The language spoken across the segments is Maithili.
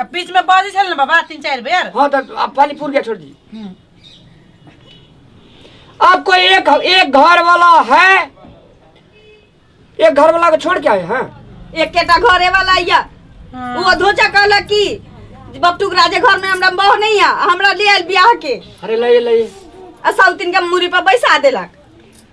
आ बीच में बाजी छल ना बाबा तीन चार बेर हाँ तो अब पानी पूर गया छोड़ दी हम्म। अब कोई एक एक घर वाला है एक घर वाला को छोड़ के आए हैं एकेटा घरे वाला या हाँ। वो धोचा कहला कि बपटुक राजे घर में हमरा बह नहीं है हमरा ले आयल बियाह के अरे लाइए लाइए आ साउतिन के मुरी पर बैसा देलक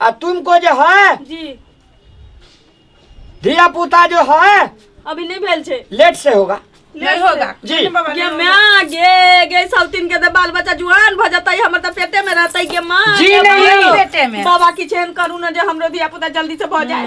आ तुमको जो है जी धिया पुता जो है अभी नहीं भेल छे लेट से होगा नहीं होगा जी। कृष्ण बाबा गे नहीं होगा। माँ गे गे सब तीन के दे बाल बच्चा जुआन भ जतई हमर त पेटे में रहतई गे माँ जी गे नहीं। माँ। पेटे में। बाबा की चैन करू न जे हमरो धिया पुता जल्दी से भ जाए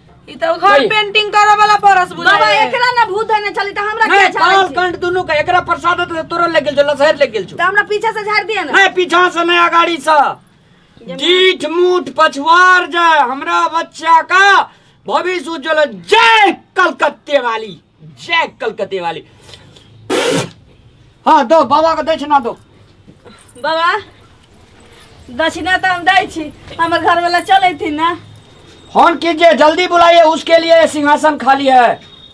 ई तो घर नहीं। पेंटिंग करे वाला परस बाबा बुझाए एकरा ना भूत धने चली त हमरा नहीं, क्या काल झाड़ी छी? कंठ दुनू के एकरा प्रसाद तो तोरा ले गेल छो लसहर ले गेल छो त हमरा पीछे से झाड़ दिए ना नहीं पीछा से नहीं अगाड़ी से डीठ मूठ पछवार जाए हमरा बच्चा का भविष्य उज्जवल जय कलकत्ते वाली जय कलकत्ते वाली हाँ दो बाबा को दक्षिणा दो बाबा दक्षिणा तो हम दै छी हमर घर वाला चले थी ना फोन कीजिए जल्दी बुलाइए उसके लिए ये सिंहासन खाली है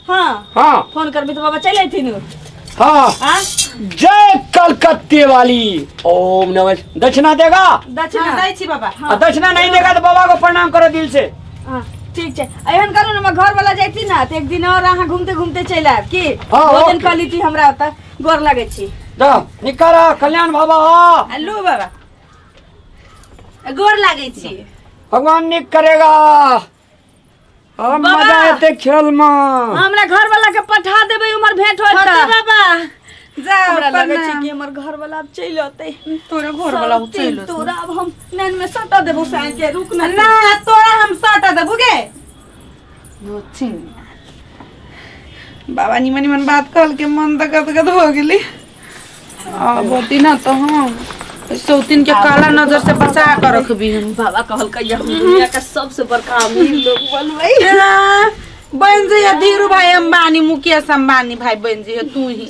हाँ हाँ फोन करबी तो बाबा चले थी नु हाँ हाँ जय कलकत्ते वाली ओम नमः दक्षिणा देगा दक्षिणा दै छी बाबा आ दक्षिणा नहीं देगा तो बाबा को प्रणाम करो दिल से हाँ, ठीक छै एहन करू ने हमर घर वाला जैती ने तऽ एक दिन और अहाँ घूमते घूमते चलि आयब की हाँ, भोजन ओके। कऽ लीती हमरा ओतऽ गोर लगै छी जा निकर आ, कल्याण बाबा आ। हेलो बाबा गोर लागै छी भगवान निक करेगा आ, मजा एते खेल में हमरा घर वाला के पठा देबै उमर भेंट होत छोटे तऽ। बाबा जा हमरा लगै छै प्रणाम। कि हमर घर वाला आब चलि औतै तोरे घर वाला सब चलि दिन तोरा आब हम नैन में सटा देबो साइन के रुक ना ना तोरा हम सटा देबो गे नोचिन बाबा निमन निमन बात कहल के मन तो गद गद हो गेली आ बोती ना तो हम सौतिन के काला नजर से बचा के रखबी हम बाबा कहल के हम दुनिया का सबसे बड़का अमीर लोग बनबै हाँ, बन जइया धीरू भाई अंबानी मुकेश अंबानी भाई बन जइया तू ही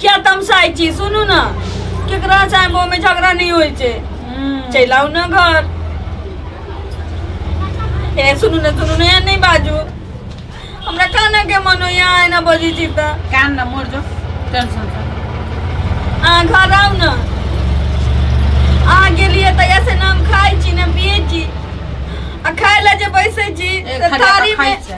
क्या तमसाइ छी सुनू ने केकरा चाहे मुँह में झगड़ा नहीं होइ छै चलि आउ ने घर ए सुनू ने सुनू ने एहन नहि बाजू हमरा कानऽ के मन होइया अहाँ एना बजै छी तऽ कान न मोर जो टेंशन से अहाँ घर आउ ने अहाँ गेलियै तऽ ऐसे नाम खाइ छी ने पियै छी आ खाय लए जे बैसै छी ए, तऽ खाली थारी अपन खाइ में छै।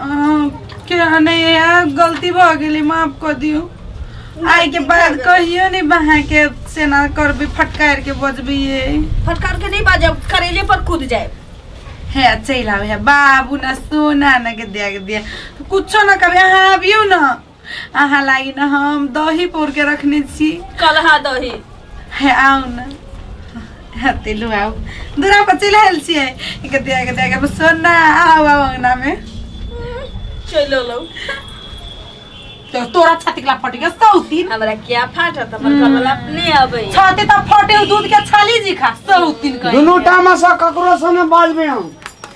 अहाँ के हने यह गलती भ गेली माफ कर दियो आइ के बाद कहियो नहीं बहा के सेना करबी फटकार के बजबी ये फटकार के नहीं बाजे करेले पर कूद जाए हे चल आवे बाबू ना सोना ना के दिया के दिया कुछो ना कभी अहाँ आबियो ना अहाँ लागी न हम दही पोर के रखने छी कलहा दही हे आउ न हते लो आउ दूरा पर चल आयल छी एक दिया एक दिया के सोना आउ आउ अंगना में चलो लो तो तोरा छाती के ला फट गया सौ दिन हमरा क्या फाटत हमर घर वाला अपने अबै छाती तो फटे दूध के छाली जी खा सौ दिन कहीं दोनों टाइम से ककरो से न बाजबे हम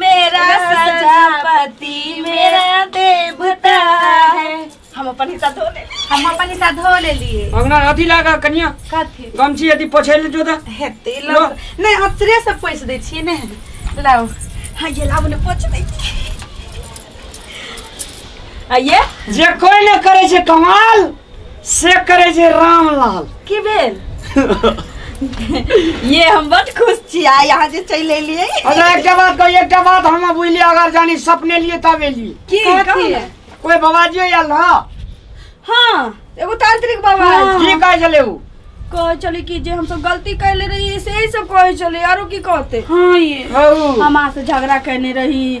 मेरा सजापति मेरा देवता है हम अपन हिस्सा धो ले हम अपन हिस्सा धो ले लिए अंगना अथी लागा कनिया कथी गमछी अथी पोछैले जो दा हेते लो। लो नहीं अतरे से पैसे दै छियै ने लाओ हाँ ये लाओ ने पोछ दे आ ये जे कोई न करे छै कमाल से करे जे रामलाल की भेल ये हम बड खुश छी आ यहाँ जे चलि एलियै अच्छा एकटा बात कही एकटा बात हम बुझलिए अगर जानी सपने लिए तब एलिए की कथी कोई बाबाजी आयल ना हाँ एगो तांत्रिक बाबा आयल की कहे चले उ कहे चले कि जे हम सब गलती कैले रही से ही सब कहे चले आरो की कहते हाँ ये हऊ हम अहाँ से झगड़ा कैने रही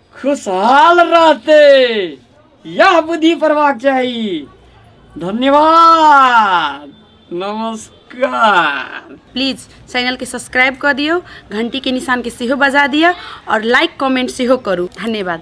खुशहाल रहते यह बुद्धि पड़वा चाहिए धन्यवाद नमस्कार प्लीज चैनल के सब्सक्राइब कर दियो घंटी के निशान के सेहो बजा दिया और लाइक कमेंट सेहो करू धन्यवाद